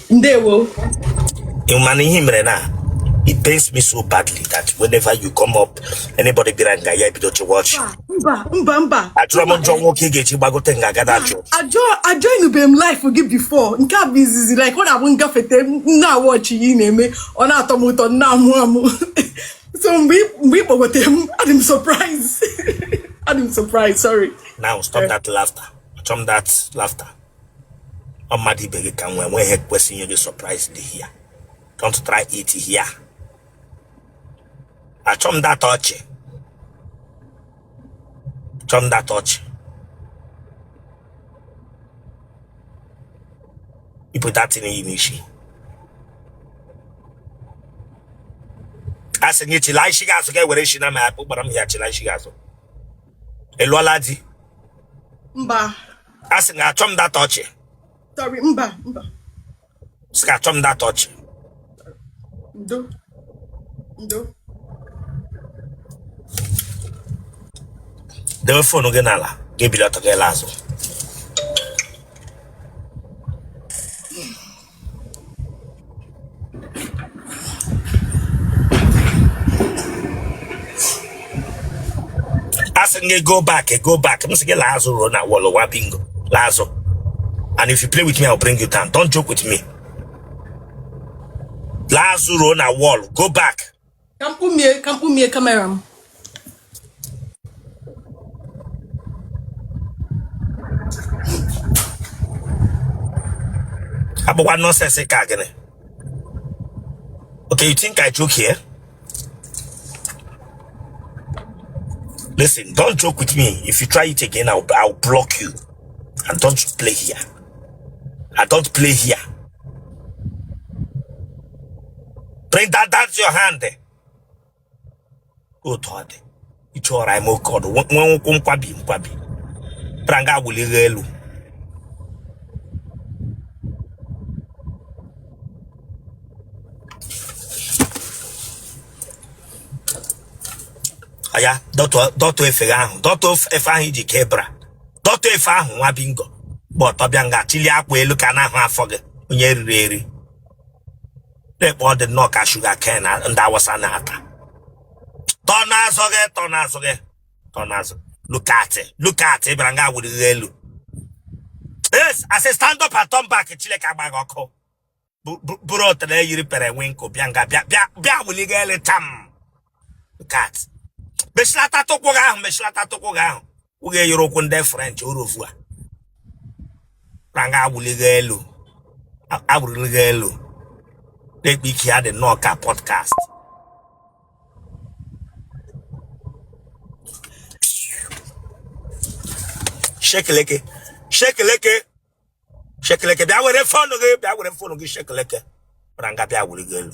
ndewo mana ihe mere na it pains me so badly that whenever you come up anybody bịara nga ya ebido to watch mba mba mba achọrọ m njọ nwoke ị ga-eji gbagote nga agada achụ ajọ ajoinube m live gị before nke a bụ izizi like ọ na-abụ m gafete m na-awatch ihe ị na-eme ọ na-atọ m ụtọ m na-amụ amụ so mgbe ị- mgbe ị kpọgote m adị m surprise adị m surprise sorry now stop that laughter achọrọ m that laughter ọ mmadụ ibe gị ka m nwee nweghị ihe kwesịrị inye gị surprise dị here don't try it here achọ m that ọchị chọ m that ọchị yipụ that thing i yi n'isi a sị gị chila isi gị azụ ka e were isi na ma akpụ gbara m ya chila isi gị azụ ị lụọla di mba a sị gị achọ m that ọchị sorry mba mba sị gị achọ m that ọchị ndo ndo dewe phone gị n'ala gị ebili ọtọ gị alaa azụ asị gị go back go back m sị gị laa azụ ruo na wall nwa bingo laa azụ and if you play with me I'll bring you down don't joke with me laa azụ ruo na wall go back ka m kpumie camera m abụkwa nọsensị ka gịnị okay you think I joke here listen don't joke with me if you try it again I'll, I'll block you and don't play here I don't play here bring that down to your hand otu ọ dị it's alright ime oke ọdụ nwe- nwee ụkwụ ngwa bị- ngwa bịara nga wuli gị elu oya dọtụ dọtụ efe gị ahụ dọtụ of- efe ahụ i ji kee bra dọtụ efe ahụ nwa bingo gba ọtọ bịa nga chịlie akwa elu ka a na-ahụ afọ gị onye riri eri na-ekpe ọ dị nnọọ ka sugar cane ndị awụsa na-ata turn azụ gị turn azụ gị turn azụ look at it look at it bịara nga wuli gị elu yes asị stand up and turn back chineke agba gị ọkụ Bu- bu- bụrụ otele yiri periwinkle bịa nga bịa bịa bịa wuli gị elu tam look at mechilatatụ ụkwụ gị ahụ mechilatatụ ụkwụ gị ahụ ụgha eyere ụkwụ ndị french orofu a na nga awụligha elu awụligha elu lekwe ike ya dị nnọọ ka podcast shekeleke shekeleke shekeleke bịa were phone gị bịa were phone gị shekeleke na nga bịa awụligha elu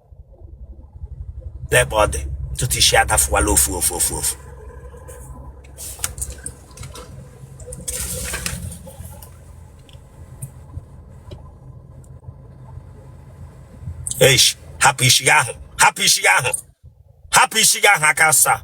n'ebe ọ dị ntutu isi adafụwala ofu ofu ofu ofu eish hapụ isi gị ahụ hapụ isi gị ahụ hapụ isi gị ahụ aka asaa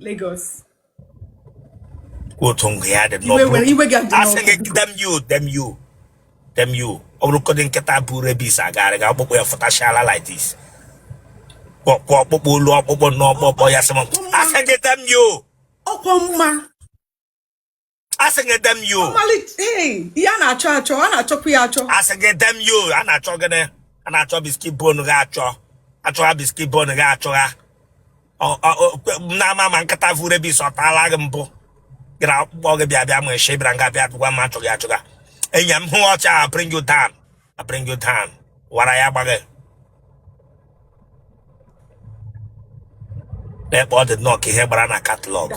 Lagos otu ngụ ya dị asị gị dem you dem you dem you ọ bụrụgodị nkịta bu rabies agagharịga ọkpụkpụ ya fụtachala like this kpọkpọ ọkpụkpụ olu ọkpụkpụ n'ọkpọkpọ ya sị m asị gị dem you ọkwa mma asị gị dem you ya na-achọ achọ a na-achọkwu ya achọ asị gị dem you a na-achọ gịnị a na-achọ biscuit bone gị achọ achọgha biscuit bone gị achọgha n'ama ma nkịta vu rabies ọ tala gị mbụ gị na ọkpụkpụ gị bịa bịa ma eshe bịara nga bịa bịkwa ma achọghị achọgha enyi m hụ ọcha I bring you down I bring you down ara ya gba gị lekwe ọ dị nnọọ ka ihe gbara na catalogue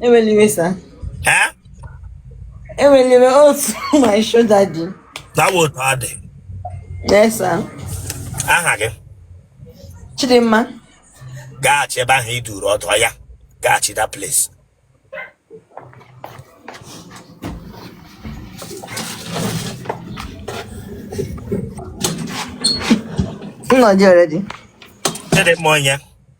Ewela iwe sir. Eh? Ewela iwe ọ otu my shoulder dị. Tawo otu ọ dị. Yes sir. Aha gị? Chidimma. Gaghachi ebe ahụ ị dụrụ ọdụ ya. Gaghachi that place. Nna gị already. Chidimma onye?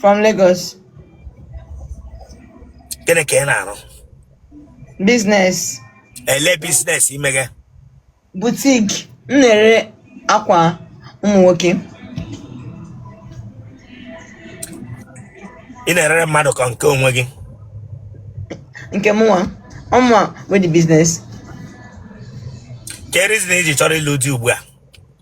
From Lagos. Gịnị ka ị na-arụ? Business. Ele business i mege? Boutique. M na-ere akwa ụmụ nwoke. Ị na-erere mmadụ ka ọ nke onwe gị? Nke mụnwa. Ọ mụwa nwe the business. Kee reason i ji chọrọ ịlụ di ugbu a?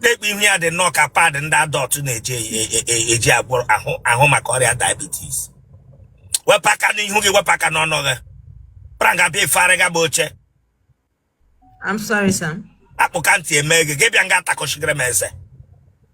lekwe ihu ya dị nnọọ ka pad ndị adult na-eji e- e- e- eji agwọ ahụ ahụ maka ọrịa diabetes wepụ aka n'ihu gị wepụ aka n'ọnụ gị pụra nga bịa ifearịga bụ oche I'm sorry, sir. akpụka ntị eme gị gị bịa nga atakọchigere m eze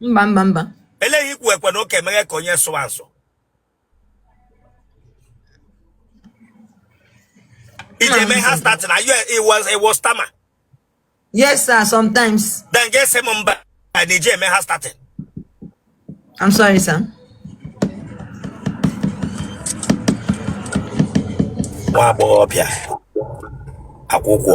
mba mba mba eleghị ikwu ekwe na ụka emeghe ka onye sụwa nsụ iji eme ha start na you it was it was stammer yes sir sometimes then get same mba na iji eme has started i'm sorry sir nwa agbọghọ bịa akwụkwọ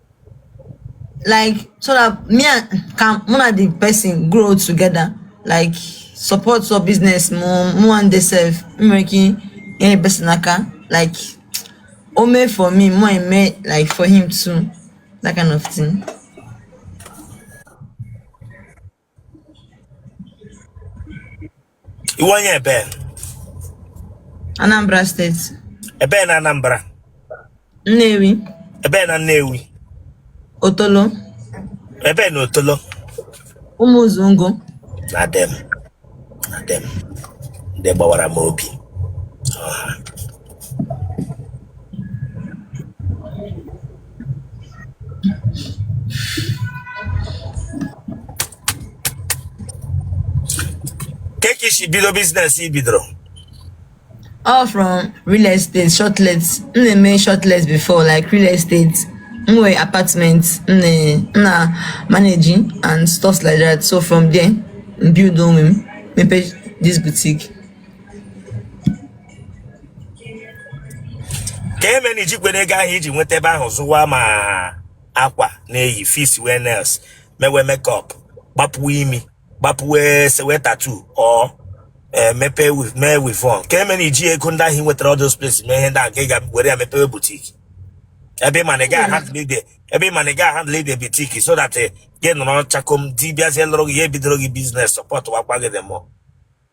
like so that me and ka mụ na the person grow together like support your business mụ mụ and the self m nwere ike inyere the person aka like o mee for me mụ eme like for him too that kind of thing. ị wụ onye ebee Anambra steeti ebee na Anambra Nnewi ebee na Nnewi Otolo ebee na Otolo Ụmụzungo na dem na dem ndị gbawara m obi kee ka i si bido business ị bidoro all from real estate shortlet m na-eme shortlet before like real estate m nwere apartment m na- m na managing and stuff like that so from there m build onwe m mepee this boutique ka eme na i jikwere ego ahụ i ji nweta ebe ahụ zụwa ma akwa na-eyi fixwe nails mewe makeup gbapuwe imi gbapuwe sewe tattoo or eh, mepee mee weavon ka eme na i ji ego ndị ahụ i nwetara all those places mee ihe ndị ahụ ka ị ga-ewere ya mepewe boutique ebe ị ma na ị ga-ahandle the boutique so that eh, gị nọrọ chakom di bịazie lụrụ gị ya ebidoro gị business supportwakwa gị dị mụọ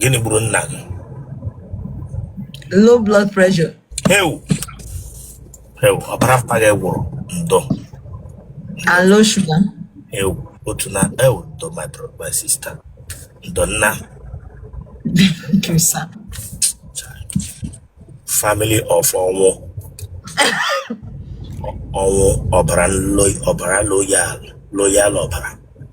gịnị gburu nna gị low blood pressure heu heu ọbara mpa gị gwụrụ ndo and low sugar heu otu na eu ndo my brother my sister ndo nna thank you sir family of ọnwụ ọnwụ ọbara loyal loyal ọbara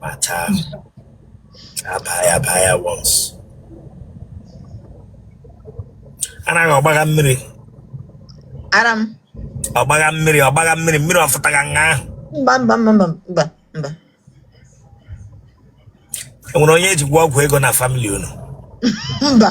But uh, a baa ya, a baa ya once. Anaghị ọ gbagha mmiri. Adam. Ọ gbagha mmiri, ọ gbagha mmiri, mmiri ọ fụtagha nga ahụ. Mba mba mba mba mba mba. E nwere onye e ji gwọọ ọgwụ ego na family unu? Mba.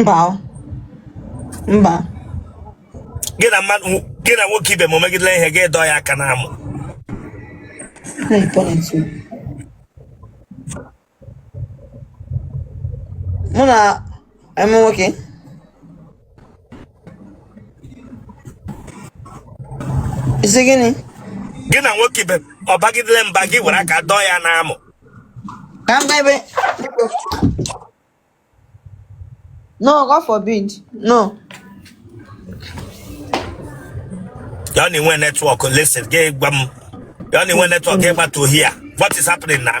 mba mba gị na mmadụ gị na nwoke ibe m ọ megidela ihe gị dọọ ya aka n'amụ mụ na I'm okay. Ị sị gịnị? Gị na nwoke ibe ọ bagidele mba gị were aka dọọ ya n'amụ. Ka m ebe. No, God forbid. No. Y'all need one network. Listen, gay bum. Y'all need one network. Get back to here. What is happening now?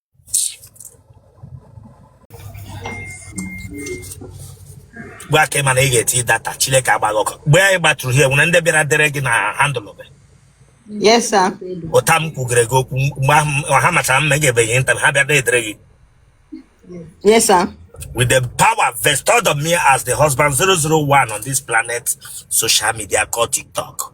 gwa aka ị ma na ị ga-eti data Chileke agba gị ọkụ mgbe anyị gbatụrụ here nwere ndị bịara dere gị na handle gị Yes, sir. ụta m kwugere gị okwu mgbe ahụ m- ha machara mma ị ga-ebeghị nta ha bịa na-edere gị Yes, sir. with the power vested on me as the husband 001 on this planet social media called TikTok.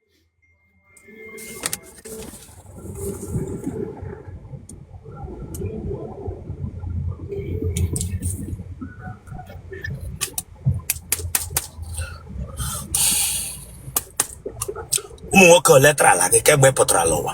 ụmụ nwoke ole tarala gị kemgbe ị pụtara n'ụwa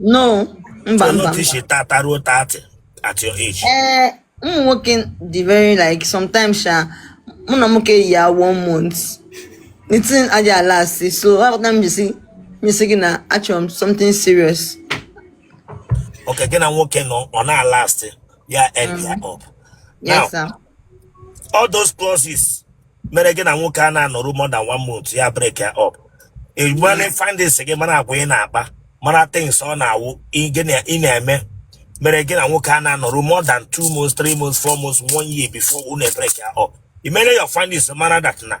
no mba mba mba isi tata ruo 30 at your age ee eh, ụmụ nwoke dị very like sometimes sha mụ na nwoke yi ya one month the thing aja alast so aghọta m jisi nyesi gị na achọrọ m something serious okay gị na nwoke nọ ọ na-alasti ya end ya mm-hmm. up now all those clauses mere gị na nwoke a na-anọrụ more than one month ya break ya up egbane findings gị mara agwa ị na-akpa mara things ọ na-awụ ị gị na- ị na-eme mere gị na nwoke a na-anọrụ more than two months three months four months one year before unu break ya up i mere your findings mara that na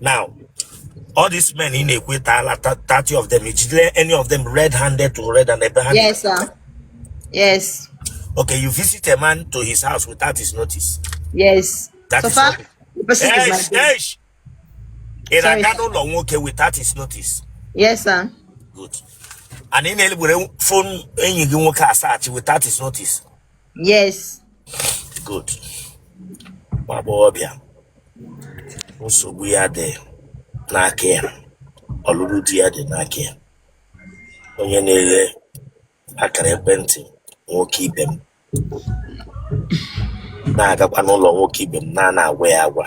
now all these men in ekwe taala 30 of them ejidere any of them red handed to red and ebe ha yes sir yes okay you visit a man to his house without his notice yes that so is far the person hey, is my hey. ị na-aga n'ụlọ nwoke without his notice yes sir good and ị na-egbere fon enyi gị nwoke asachi without his notice yes good nwa agbọghọbịa nsogbu ya dị n'aka ya ọlụlụ di ya dị n'aka ya onye na-ewe akara ekwentị nwoke ibe m na-agakwa n'ụlọ nwoke ibe m na-ana agwa ya agwa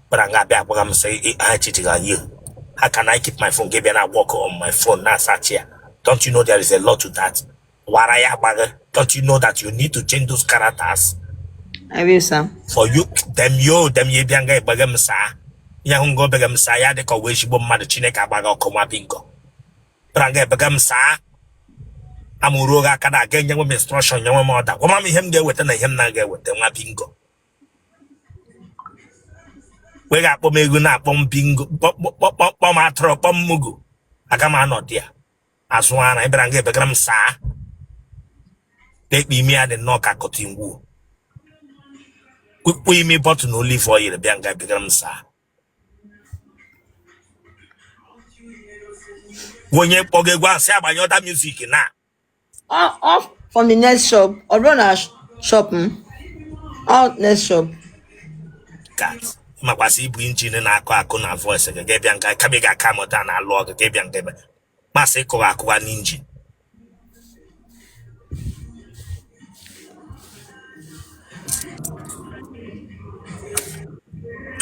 bịara nga a bịa agwaga m sị ha cheating on you how can I keep my phone gị bịa na work on my phone na-asearch ya don't you know there is a lot to that wara ya agbaghị don't you know that you need to change those characters I will, sir. for you dem yo dem ya bịa nga ebega m sir ya hụ nga o bega m sir ya dịka ọ wụ ezigbo mmadụ chineke agba gị ọkụ nwa bingo bịara nga ebega m sir amụrụ oge aka na-aga enye nwe m instruction nye nwe m order gwa m ihe m ga-eweta na ihe m na-aga eweta nwa bingo we ga-akpọ m eghu na-akpọ m bingo kpọ m atụrụ kpọ m mugu aga m anọ there azụ ara ị bịara nga ebegara m sir na-ekpe imi ya dị nnọọ ka cotton wool kpụkpọ imi bọtụ na olive oil bịa nga ebegara m sir onye kpọga egwu a sị ya gbanyụọ the music now Off, off from the next shop. Or run a sh- shop. Hmm? Out next shop. kat makwa sị i bu engine na-akụ akụ na voice gị gị bịa nga kama ị ga-a calm down alụ ọgụ gị bịa nga ebe masị ịkụwa akụwa n'engine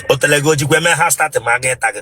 otele gị ojikwa eme ha statị ma aga ịta gị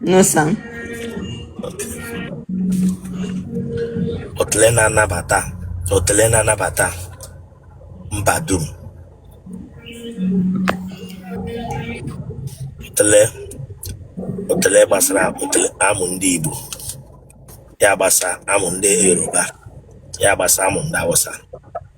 No, sir. Otele na-anabata otele na-anabata mba dum. Otele otele gbasara otele amụ ndị Igbo. Ya gbasa amụ ndị Yoruba. Ya gbasa amụ ndị Hausa.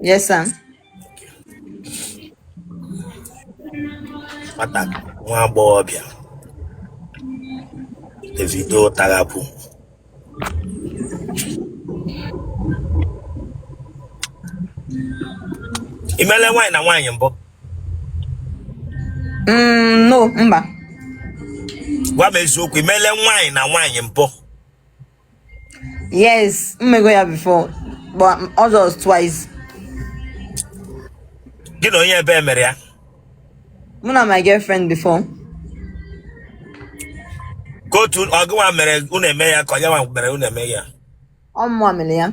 Yes, sir. Nwata nwa agbọghọbịa Davido Tarapu ị meela nwaanyị na nwaanyị mbụ Mm, no, mba. gwa m eziokwu ị meela nwaanyị na nwaanyị mbụ Yes, mmego ya before, but ọ just twice. Gị na onye ebe emere ya? Mụ na my girlfriend before. Ka otu ọ gịnwa mere unu eme ya ka ọ yanwa mere unu eme ya? Ọ mụwa mere ya.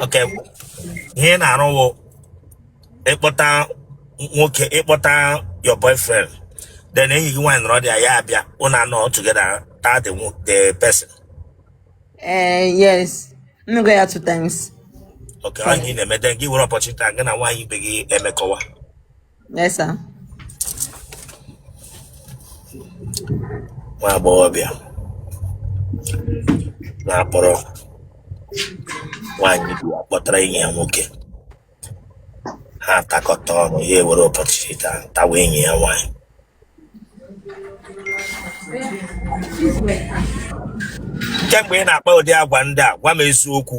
Okay ihe ị na-arụ wụ ịkpọta nwoke ịkpọta your boyfriend then enyi gị nwaanyị nọrọ there ya abịa unu anọ together taa the wo- the person Eh, yes. Mmego ya two times. Okay ọ ihe ị na-eme then gị were opportunity gị na nwaanyị ibe gị emekọwa Yes, sir. nwa agbọghọbịa na-akpọrọ nwaanyị ibe ya kpọtara enyi ya nwoke ha atakọta ọnụ ya ewere opportunity ahụ tawa enyi ya nwaanyị kemgbe ị na-akpa ụdị agwa ndị a gwa m eziokwu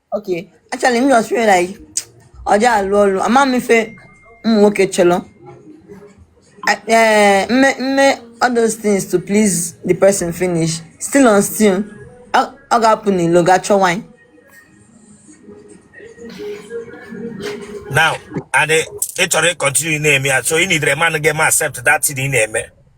Okay, actually, m just feel like ọ dị alụ ọlụ ama m ife ụmụ nwoke chọlọ I- eh, m mee m mee all those things to please the person finish still on still ọ ọ ga-apụ n'ilo ga chọọ nwaanyị now and eh, ị chọrọ ịkọntinu na-eme ya so ị nidere man ga-eme accept that thing ị na-eme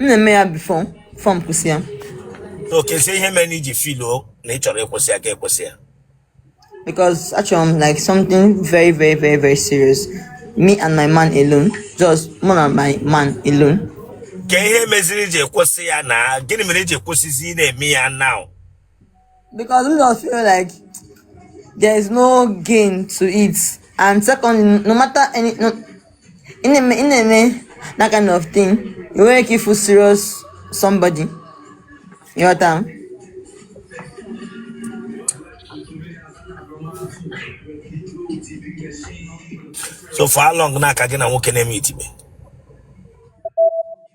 m na-eme ya bifo m kwụsị ya so keezi ihe mere i ji filuo na ị chọrọ ịkwụsị ya ka ị kwụsị ya because achọrọ m like something very very very very serious me and my man alone just mụ na my man alone kee ihe meziri i ji kwụsị ya now gịnị mere i ji kwụsịzi ị na-eme ya now because m just feel like there is no gain to it and secondly no matter any no ị na-eme ị na-eme that kind of thing i nwerọ ike ịfụ serious somebody ịghọta m so for how long now ka gị na nwoke na-emeetibe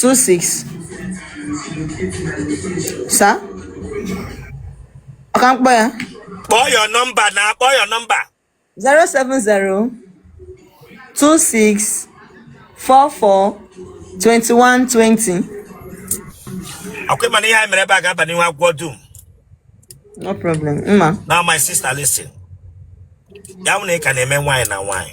two six sir o ka m kpọọ ya kpọọ your nọmba now kpọọ your nọmba zero seven zero two six four four twenty one twenty ọ kwa ị ma na ihe anyị mere ebe a ga-aba n'ihu agwọ dum no problem mma now my sister listen ya wụ na ị ka na-eme nwaanyị na nwaanyị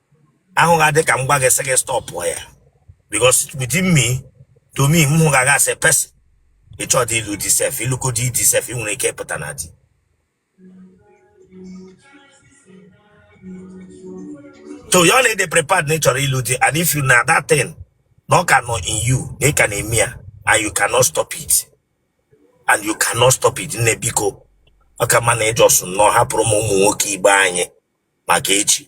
ahụ ga adị ka m gwa gị sị gị stọpụ ya because within me to me mụ ga aga asị pesin ị chọdị ịlụ di sef ị lụkwọdị di sef ị nwere ike ịpụta na di so ya wụ na ị dị prepared na ị chọrọ ịlụ di and if you know that thing na ọ ka nọ in you na ị ka na-eme ya and you cannot stop it and you cannot stop it nne biko ọ ka mma na ị jọsụ nnọọ hapụrụ m ụmụ nwoke ibe anyị maka echi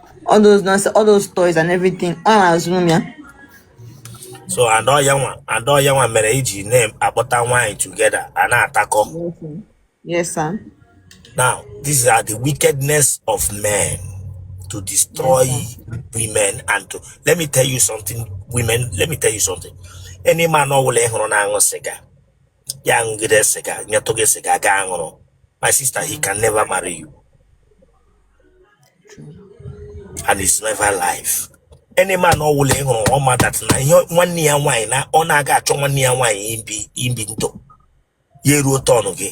all those nonsense all those toys and everything ọ na-azụrụ m ya so and ọ ya nwa and ọ ya nwa mere iji na-akpọta nwaanyị together a na-atakọ Yes, sir. Yes, sir. now these are the wickedness of men to destroy women and to let me tell you something women let me tell you something any man ọ wụla ị hụrụ na-aṅụ sịga ya aṅụgide sịga nyetụ gị sịga gị aṅụrụ my sister he can never marry you and it's never life any man ọ wụla ị hụrụ ọ ma that na ihe nwanne ya nwaanyị na ọ na-aga achọ nwanne ya nwaanyị ibi ibi ndụ ya eruo tọnụ gị